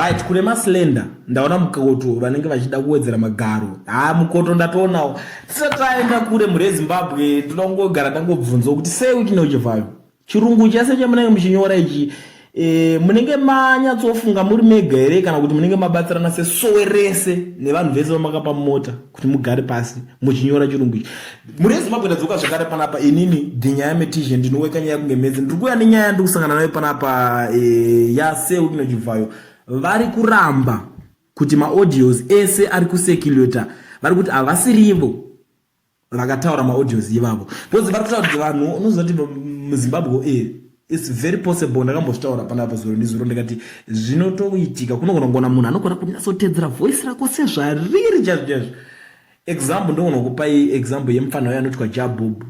Right, kune maslender ndaona mukoto vanenge vachida kuwedzera magaro haa mukoto ndatoonawo tisataenda kure mhuri yezimbabwe tinoda kungogara tangobvunzawo kuti sei uchine uchivhayo chirungu chese chamunenge muchinyora ichi e, munenge manyatsofunga muri mega here kana kuti munenge mabatsirana sesowe rese nevanhu vese vamakapa mota kuti mugare pasi muchinyora chirungu ichi muri yezimbabwe ndadzoka zvekare panapa inini dhinyaya metizhe ndinoweka nyaya kunge mhedzi ndiri kuuya nenyaya yandiri kusangana nayo panapa e, eh, yaseutino chibvayo vari kuramba kuti maaudios ese ari kuseculata vari kuti havasirivo vakataura maaudios ivavo because vari kutaura kuti vanhu unoziva kuti muzimbabwe e its very possible ndakambozvitaura panapa zuro ndizuro ndikati zvinotoitika kunogona kugona munhu anogona kunyatsotedzera voice rako sezvariri chazvo chazvo example ndogona kupai example yemufana wayo anotwa jabob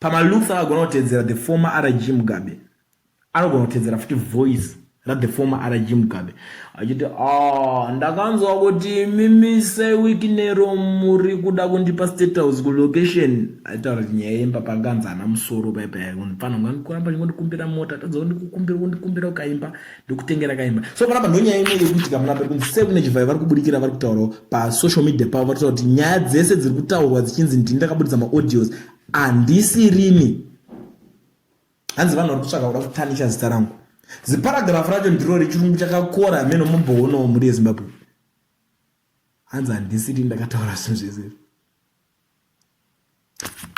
pamalooks akagona kutedzera the former rg mugabe anogona kutedzera futi voice That the former RG Mugabe achiti ah, ndakanzwa kuti mimise wiki nero muri kuda kundipa state house kulocation aitaura kuti nyaya yemba pakanzi ana musoro paipaya mfana unga kuramba chingondikumbira mota tadza kundikumbira kundikumbira ukaimba ndikutengera kaimba so panapa ndonyaya imwe yekuitika muna pari kunzi sevune chivhayo vari kubudikira vari kutaurawo pasocial media pavo vari kutaura kuti nyaya dzese dziri kutaurwa dzichinzi ndini ndakabuditsa maaudios handisirini hanzi vanhu vari kutsvaka kuda kutanisha zita rangu ziparagrafu racho ndiro rechirungu chakakora hameno mumboonawo mhuri yezimbabwe hanzi handisiri ndakataura zvinhu zvese